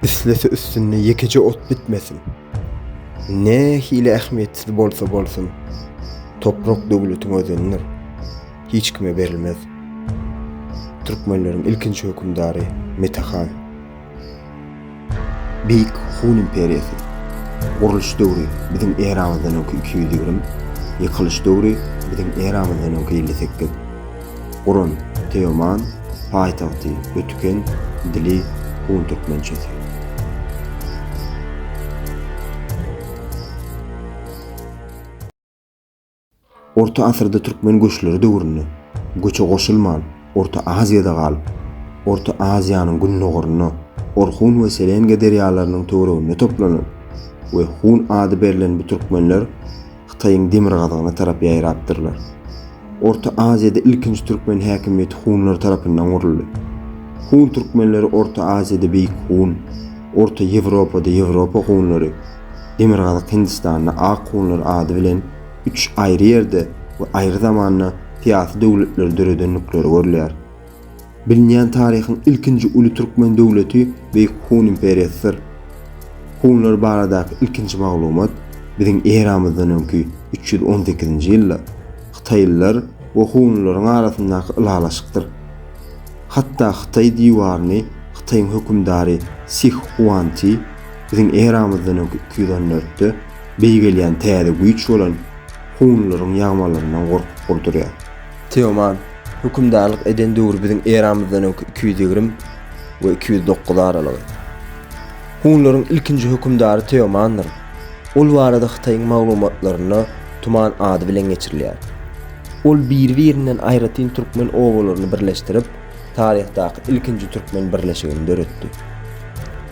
Üstesi üstünde ýekeje ot bitmesin. Nähili ähmiýetsiz bolsa bolsun, toprak döwletiň özenidir. Hiç kime berilmez. Türkmenleriň ilkinji hökümdary Mete han. Beýik Hun imperiýasy. Gurluş döwri, biziň eramyzdan öňki iki ýüz ýigrimi, ýykylyş döwri, biziň eramyzdan öňki elli sekiz. Guran, Teoman, paýtagty, Ötüken, dili, hun türkmençesi. Orta asyrda türkmen göçleri döwründe göçe goşulman Orta Aziýada galyp, Orta Aziýanyň gündogarynda Orhun we Selenge derýalarynyň töwereginde toplanan we Hun ady berlen bu türkmenler Hytaýyň demirgazygyna tarap ýaýrapdyrlar. Orta Aziýada ilkinji türkmen häkimiýeti hunlar tarapyndan guruldy. Hun türkmenleri Orta Aziýada Beýik Hun, Orta Ýewropada Ýewropa hunlary, Demirgazyk Hindistanda ak hunlar ady bilen üç aýry ýerde we aýry zamanda syýasy döwletleri döredendikleri görülýär. Bilinýän taryhyň ilkinji uly türkmen döwleti Beýik Hun imperiýasydyr. Hunlar baradaky ilkinji maglumat biziň eramyzdan öňki üç ýüz on sekizinji ýylda hytaýlylar we hunlaryň arasyndaky ylalaşykdyr. Hatda Hytaý diwaryny Hytaýyň hökümdary Sih Huan Ti Biziň eramyzdan öňki iki ýüz on dörtde beý gelýän täze güýç bolan hunlaryň ýagmalaryndan gorkup gurdurýar. Teoman, hökümdarlyk eden döwri biziň eramyzdan öňki iki ýüz ýigrimi we iki ýüz dokuz aralygy. Hunlaryň ilkinji hökümdary Teomandyr. Ol barada Hytaýyň maglumatlarynda Tuman ady bilen geçirilýär. Ol biri-birinden aýratyn türkmen obalaryny birleşdirip, taryhdaky ilkinji türkmen birleşigini döretdi.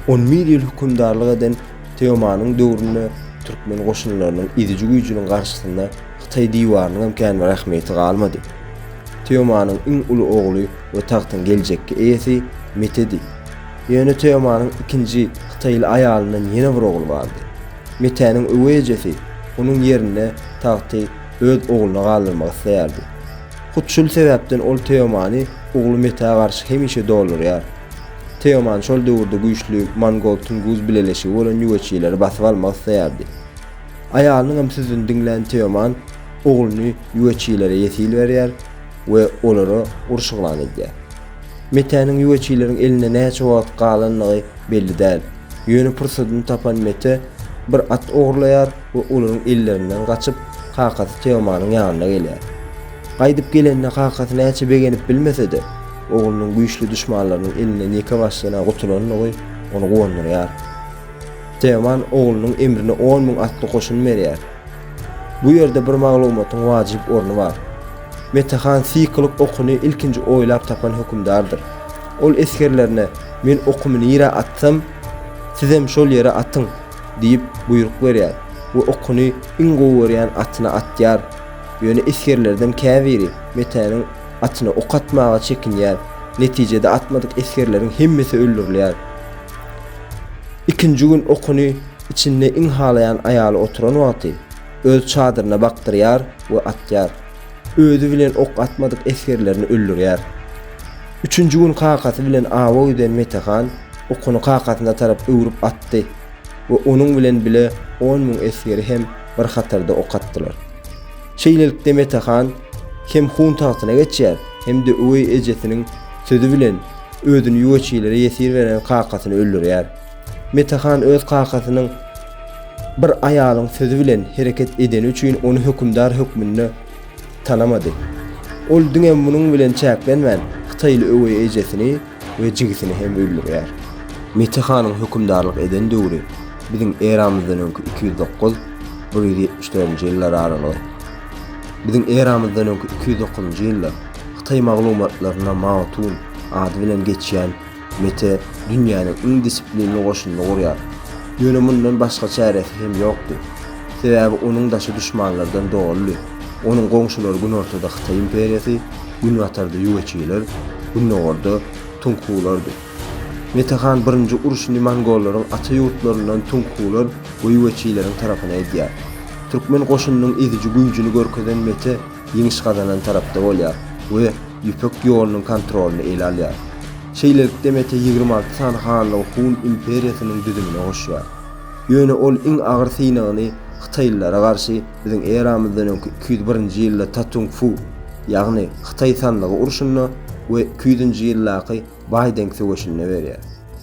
On bir ýyl hökümdarlyk eden Teomanyň döwründe türkmen goşunlarynyň eziji güýjüniň garşysynda Hytaý diwarynyň hem kän bir ähmiýeti galmady. Teomanyň iň uly ogly we tagtyň geljekki eýesi Metedi. Ýöne Teomanyň ikinji hytaýly aýalyndan ýene bir ogly bardy. Metäniň öweý ejesi onuň ýerinde tagty öz ogluna galdyrmak isleýärdi. Hut şul sebäpden ol Teomany ogly Metä garşy hemişe doldurýar. Teoman şol döwürde güýçli mongol-tunguz bileleşigi bolan ýüweçileri basyp almak isleýärdi. Aýalynyň hem sözüni diňlän Teoman ogluny ýüweçilere ýesil berýär we olara uruş yglan edýär. Metäniň ýüweçileriň elinde näçe wagt galandygy belli däl. Ýöne pursadyny tapan Mete bir at ogurlaýar we olaryň ellerinden gaçyp, kakasy Teomanyň ýanyna gelýär. Gaýdyp gelenine kakasy näçe begenip bilmese-de, oglunyň güýçli duşmanlarynyň elinden ýeke başlygyna gutulandygy ony guwandyrýar. Teoman oglunyň emrine on müň atly goşun berýär. Bu ýerde bir maglumatyň wajyp orny bar. Mete han syýkylyk okuny ilkinji oýlap tapan hökümdardyr. Ol esgerlerine Men okumy nirä atsam, sizem şol ýere atyň! Diýip, buýruk berýär we okuny iň gowy görýän atyna atýar. Ýöne esgerlerden käbiri Metäniň atyna ok atmaga çekinýär. Netijede atmadyk esgerleriň hemmesi öldürilýär. Ikinji gün okuny içinde iň halaýan aýaly oturan wagty, öz çadyryna bakdyrýar we atýar. Özi bilen ok atmadyk esgerlerini öldürýär. Üçünji gün kakasy bilen awa giden Mete han okuny kakasyna tarap öwrüp atdy we onuň bilen bile on müň esgeri hem bir hatarda ok atdylar. Şeýlelikde Mete han hem hun tagtyna geçýär, hem-de öweý ejesiniň sözi bilen özüni ýuwaçilere ýesir beren kakasyny öldürýär. Mete han öz kakasynyň bir aýalyň sözi bilen hereket edeni üçin ony hökümdar hökmünde tanamady. Ol diňe munuň bilen çäklenmän, hytaýly öweý ejesini we jigisini hem öldürýär. Mete hanyň hökümdarlyk eden döwri biziň eramyzdan öňki iki ýüz dokuz, bir ýüz ýetmiş dördünji ýyllar aralygy. Biziň eramyzdan öňki iki ýüz dokuzynjy ýylda hytaý maglumatlarynda Mao Tun ady bilen geçýän Mete dünýäniň iň disiplinli goşunyny gurýar. Ýöne mundan başga çäresi hem ýokdy. Sebäbi onuň daşy duşmanlardan doludy. Onuň goňşulary günortada Hytaý imperiýasy, günbatarda ýueçiler, gündogarda tunghulardy. Mete han birinji urşuny mongollaryň ata ýurtlaryndan tunghular we ýueçileriň tarapyna edýär. Türkmen goşunynyň eziji güýjüni görkezen Mete ýeňiş gazanan tarapda bolýar we Ýüpek ýolunyň kontrolyny ele alýar. Şeýlelikde Mete ýigrimi alty sany hanlygy Hun imperiýasynyň düzümine goşýar. Ýöne ol iň agyr synagyny hytaýlylara garşy biziň eramyzdan öňki iki ýüz birinji ýylda Tatung-Fu, ýagny Hytaý sanlygy urşunda we iki ýüzünji ýyldaky Baý Deng söweşinde berýär.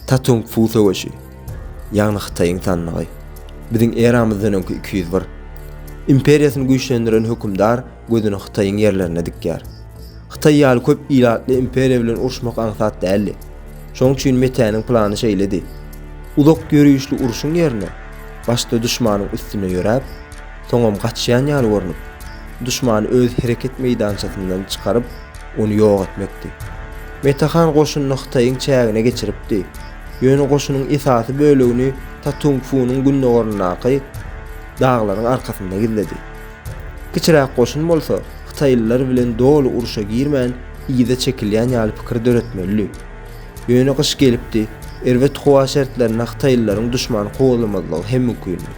Tatung Fu söweşi, ýagny Hytaýyň sandygy, biziň eramyzdan öňki iki ýüz bir. Imperiýasyny güýçlendiren hökümdar gözüni Hytaýyň ýerlerine dikýär. Hytaý ýaly köp ilatly imperiýa bilen uruşmak aňsat däldi. Şoň üçin Metäniň plany şeýledi. Uzak ýörişli uruşyň ýerine, başda duşmanyň üstüne ýöräp, Soňam gaçýan ýaly görnüp, duşmany öz hereket meýdançasyndan çykaryp, ony ýok etmekdi. Mete han goşunyny Hytaýyň çägine geçiripdi. Ýöne goşunyň esasy bölegini Tatungfunyň gündogaryndaky daglaryň arkasynda gizledi. Kiçiräk goşun bolsa, hytaýlylar bilen doly urşa girmän, yza çekilýän ýaly pikir döretmelidi. Ýöne gyş gelipdi, erbet howa şertlerinde hytaýlylaryň duşmany kowalamadygy hem mümkindi.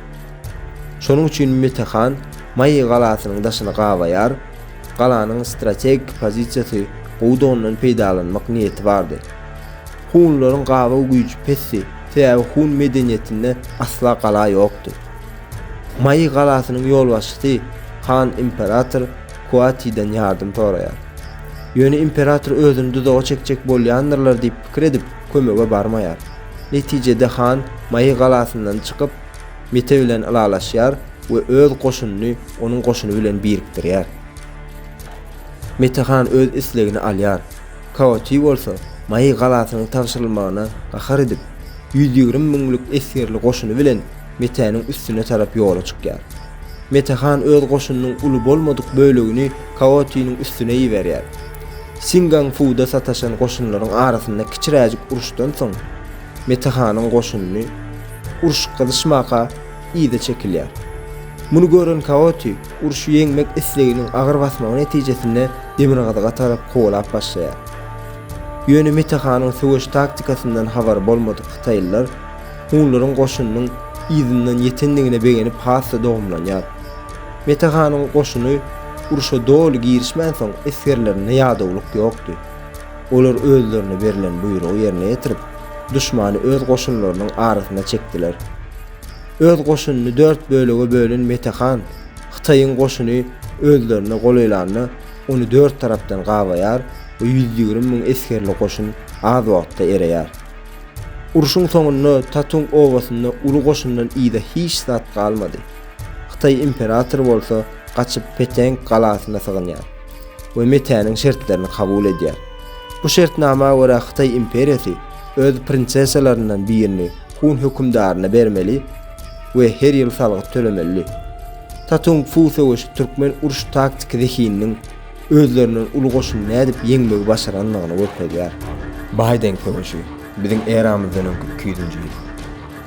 Şonuň üçin Mete han Maýy galasynyň daşyny gabaýar, galanyň strategik pozisiýasy gowudy ondan peýdalanmak niýeti bardy. Hunlaryň gabaw güýji pesdi, sebäbi hun medeniýetinde asla gala ýokdy. Maýy galasynyň ýolbaşçysy han imperator Kuatiden ýardam soraýar. Ýöne imperator özüni duzaga çekjek bolýandyrlar diýip pikir edip kömege barmaýar. Netijede han Maýy galasyndan çykyp, Mete bilen ylalaşýar we öz goşunyny onuň goşuny bilen birikdirýär. Mete han öz islegini alýar. Kaoti bolsa Maý galasynyň tabşyrylmagyna gahar edip, ýüz ýigrimi müňlük esgerli goşuny bilen Metäniň üstüne tarap ýola çykýar. Mete han öz goşunynyň uly bolmadyk bölegini Kaotiniň üstüne iberýär. Singang-fuda sataşan goşunlaryň arasynda kiçiräjik uruşdan soň, Mete hanyň goşuny urşup gyzyşmaka yza çekilýär. Muny gören Kaoti urşy ýeňmek isleginiň agyr basmagy netijesinde demirgazyga tarap kowalap başlaýar. Ýöne Mete hanyň söweş taktikasyndan habary bolmadyk hytaýlylar hunlaryň goşunynyň yzyndan ýetendigine begenip has-da dogumlanýar. Mete hanyň goşuny urşa doly girişmänsoň esgerlerinde ýadawlyk ýokdy. Olar özlerine berlen buýrugy ýerine ýetirip, duşmany öz goşunlarynyň arasyna çekdiler. Öz goşunyny dört bölege bölen Mete han, Hytaýyň goşuny özlerine golaýlanda, ony dört tarapdan gabaýar we ýüz ýigrimi müň esgerli goşun az wagtda ereýär. Urşuň soňunda Tatung obasynda uly goşundan yza hiç zat galmady. Hytaý imperatory bolsa gaçyp Peteng galasyna sygynýar. we MIT-niň şertlerini kabul edýär. Bu şertnama görä Hytaý imperiýasy öz prinsessalaryndan birini Hun hökümdaryna bermeli we her ýyl salgyt tölemeli. Tatung Fu söweşi türkmen uruş taktiki zehininiň özlerinden uly goşuny nädip ýeňmegi başarandygyny görkezýär. Baýdeng söweşi, biziň eramyzdan öňki iki ýüzünji ýyl.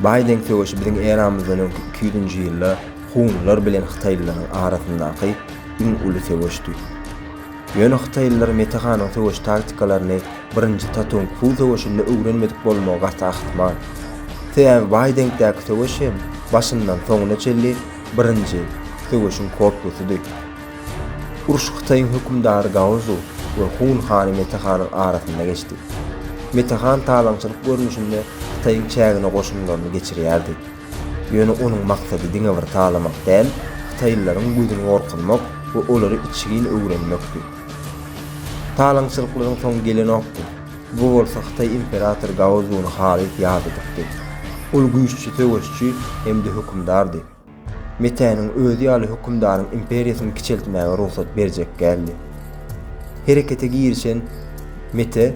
Baýdeng söweşi biziň eramyzdan öňki iki ýüzünji ýylda hunlar bilen hytaýlylaryň arasyndaky iň uly söweşdi. Ýöne hytaýlylar Mete hanyň söweş taktikalaryny birinji Tatung Fu söweşinde öwrenmedik bolmagy gaty ahmal. Sebäbi baý deňkdäki söweş hem başyndan soňuna çenli birinji söweşiň kopýasydy. Uruş Hytaýyň hökümdary Gaozu we Hun hany Mete hanyň arasynda geçdi. Mete han talaňçylyk görnüşinde Hytaýyň çägine goşunlaryny geçirýärdi. Ýöne onuň maksady diňe bir talamak däl, hytaýlylaryň gözüni gorkuzmak we olary içgin öwrenmekdi. Talaňçylyklaryň soňy gelenokdy. Bu bolsa hytaý imperatory Gaozuny halys ýat edipdi. Ol güýççi söweşçi hem-de hökümdardy. Metäniň özi ýaly hökümdaryň imperiýasyny kiçeltmäge rugsat berjek däldi. Herekete girişen Mete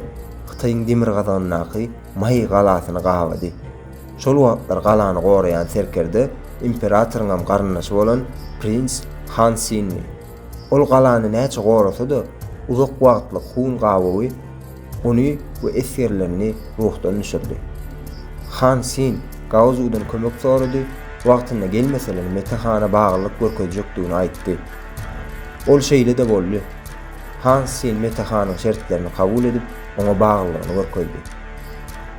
Hytaýyň demirgazygyndaky Maý galasyny gabady. Şol wagtlar galany goraýan serkerde imperatoryňam garyndaşy bolan prins Han Sinni. Ol galany näçe gorasa-da, uzak wagtlyk Hun gabawy ony we esgerlerini ruhdan düşürdi. Han Sin Gaozudan kömek sorady, wagtynda gelmeseler Mete hana baglylyk görkezjekdigini aýtdy. Ol şeýle-de boldy. Han Sin Mete hanyň şertlerini kabul edip, oňa baglylygyny görkezdi.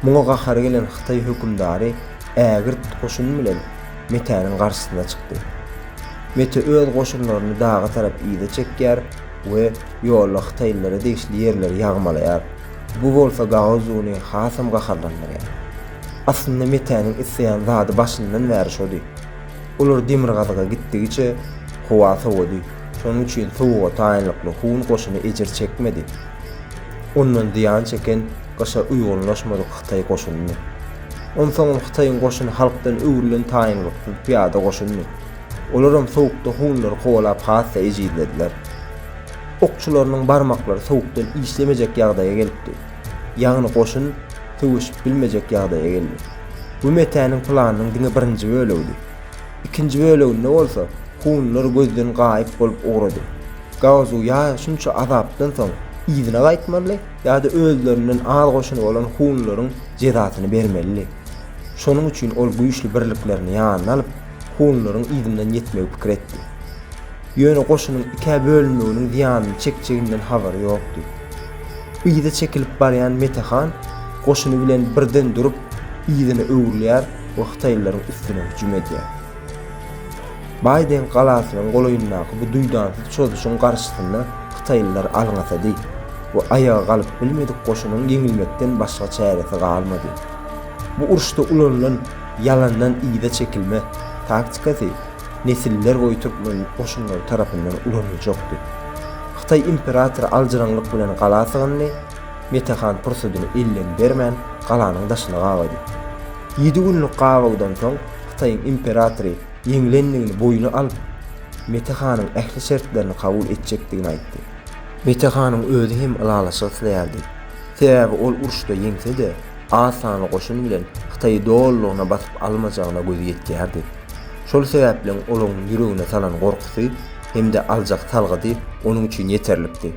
Muňa gahary gelen hytaý hökümdary ägirt goşun bilen Metäniň garşysyna çykdy. Mete öz goşunlaryny daga tarap yza çekýär we ýolda hytaýlylara degişli ýerleri ýagmalaýar, bu bolsa Gaozuny hasam gaharlandyrýar. Aslynda Metäniň isleýän zady başyndan bäri şody. Olar demirgazyga gitdigiçe, howa sowady, şonuň üçin sowuga taýynlykly hun goşuny ejir çekmedi. ondan zyýan çeken gyşa uýgunlaşmadyk hytaý goşunyny. Onsoňam hytaýyň goşuny halkdan öwrülen taýynlyksyz pyýada goşunyny. Olaram sowukda hunlary kowalap has-da ejizlediler. Okçularynyň barmaklary sowukdan işlemejek ýagdaýa gelipdi. Ýagny goşun söweşip bilmejek ýagdaýa geldi. Bu Metäniň planynyň diňe birinji bölegidi. Ikinji böleginde bolsa hunlar gözden gaýyp bolup ugrady. Gaozu ýa şunça azapdan soň yzyna gaýtmaly, ýa-da özlerinden az goşuny bolan hunlaryň jezasyny bermelidi. Şonuň üçin ol güýçli birliklerini ýanyna alyp, hunlaryň yzyndan ýetmegi pikir etdi. Ýöne goşunyň ikä bölünmeginiň zyýanyny çekjeginden habary ýokdy. Yza çekilip barýan Mete han goşuny bilen birden durup, yzyna öwrülýär we hytaýlylaryň üstüne hüjüm edýär. Baýdeng galasynyň golaýyndaky bu duýdansyz çozuşyň garşysyna hytaýlylar alňasady we aýaga galyp bilmedik goşunyň ýeňilmekden başga çäresi galmady. Bu uruşda ulanylan ýalandan yza çekilme taktikasy nesiller boýy türkmen goşunlary tarapyndan ulanyljakdy. Hytaý imperatory aljyraňlyk bilen gala sygyndy, Mete han pursadyny elden bermän, galanyň daşyna gabady. Ýedi günlük gabawdan soň, Hytaýyň imperatory, ýeňlendigini boýna alyp, Mete hanyň ähli şertlerini kabul etjekdigini aýtdy. Mete hanyň özi hem ylalaşyk isleýärdi. Sebäbi ol uruşda ýeňse-de, az sanly goşun bilen Hytaýy dolulygyna basyp almajagyna gözi ýetýärdi. Şol sebäpleň olaryň ýüregine salan gorkusy hem-de aljak salgysy onuň üçin ýeterlikdi.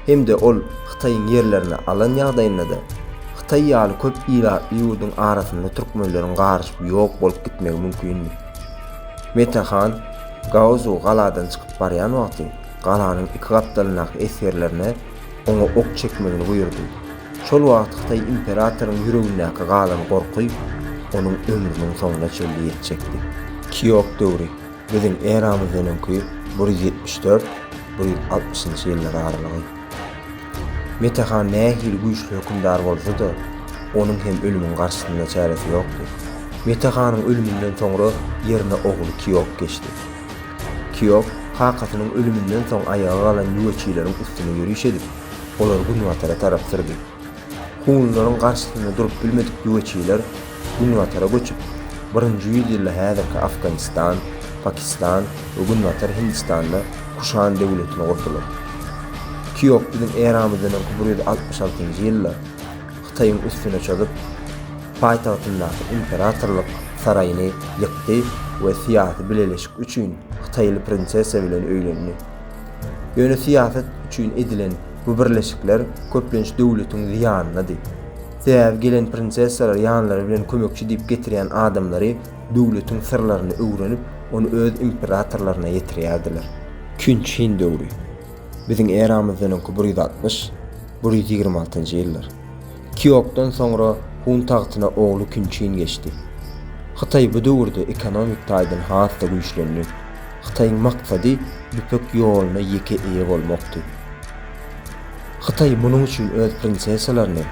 hem-de ol Hytaýyň ýerlerini alan ýagdaýynda-da, Hytaý ýaly köp ilatly ýurduň arasynda türkmenleriň garyşyp ýok bolup gitmegi mümkindi. Mete han Gaozu galadan çykyp barýan wagty galanyň iki gapdalyndaky esgerlerine oňa ok çekmegini buýurdy. Şol wagt Hytaý imperatoryň ýüregindäki galan gorky onuň ömrüniň soňuna çenli ýetjekdi. Kýok döwri. Biziň eramyzdan öňki bir ýüz ýetmiş dört, bir ýüz altmyşynjy ýyllar aralygy. Mete han nähili güýçli hökümdar bolsa-da, onuň hem ölümiň garşysynda çäresi ýokdy. Mete hanyň ölüminden soňra ýerine ogly Kiok geçdi. Kiok kakasynyň ölüminden soň aýaga galan ýüweçileriň üstüne ýöriş edip, olary günbatara tarap sürdi. Hunlaryň garşysynda durup bilmedik güweçiler günbatara göçüp, birinji ýüz ýylda häzirki Afganistan, Pakistan we günbatar Hindistanda Kuşan döwletini gurdular. Kýok biziň eramyzdan öňki bir ýüz altmyş altynjy ýylda Hytaýyň üstüne çozup, paýtagtyndaky imperatorlyk saraýyny ýykdy we syýasy bileleşik üçin hytaýly prinsessa bilen öýlendi. Ýöne syýasat üçin edilen Bu birleşikler köplenç döwletiň zyýanynady. Sebäbi gelen prinsessalar ýanlary bilen kömekçi diýip getirýän adamlary döwletiň syrlaryny öwrenip, ony öz imperatorlaryna ýetirýärdiler. Künç Hin döwri. Biziň eramyzdan öňki bir ýüz altmyş, bir ýüz ýigrimi altynjy ýyllar. Kiokdan soňra Hun tagtyna ogly Künçin geçdi. Hytaý bu döwürde ekonomik taýdan has-da güýçlendi. Hytaýyň maksady Ýüpek ýoluna ýeke eýe bolmakdy. Hytaý munuň üçin öz prinsessalaryny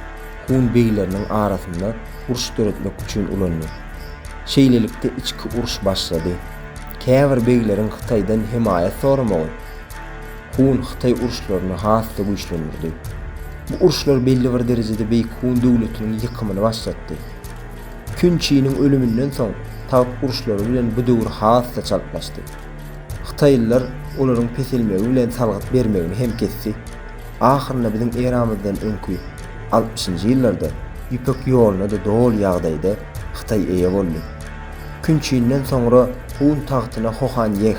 Hun begleriniň arasynda uruş döretmek üçin ulandy. Şeýlelikde içki uruş başlady. Käbir begleriň Hytaýdan hemaýat soramagy, Hun, Hytaý uruşlaryny has-da güýçlendirdi. Bu uruşlar belli bir derejede Beýik Hun döwletiniň ýykymyny başlatdy. Kun Çiniň ölüminden soň, tagt uruşlary bilen bu döwür has-da çaltlaşdy. Hytaýlylar olaryň peselmegi bilen salgyt bermegini hem kesdi. Ahyrynda biziň eramyzdan öňki altmyşynjy ýyllarda Ýüpek ýoluna-da doly ýagdaýda Hytaý eýe boldy. Kun Çinden soňra Hun tagtyna Hohan Ýeh,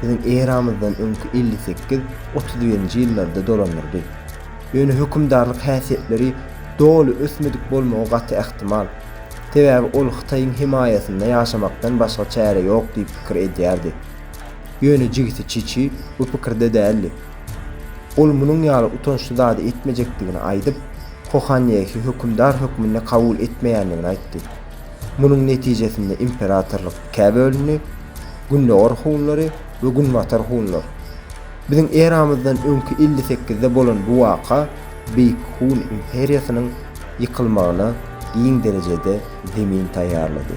biziň eramyzdan öňki elli sekiz, otuz birinji ýyllarda dolandyrdy. Ýöne hökümdarlyk häsiýetleri doly ösmedik bolmagy gaty ähtimal. Sebäbi ol Hytaýyň hemaýasynda ýaşamakdan başga çäre ýok diýip pikir edýärdi. Ýöne jigisi Çiçi bu pikirde däldi. Ol munuň ýaly utançly zady etmejekdigini aýdyp, Kohanýehi hökümdar hökmünde kabul etmeýändigini aýtdy. Munuň netijesinde imperatorlyk ikä bölündi, Gündogar hunlary we Günbatar hunlar. Biziň eramyzdan öňki elli sekizde bolan bu waka Beýik Hun imperiýasynyň ýykylmagyna giň derejede zemin taýýarlady.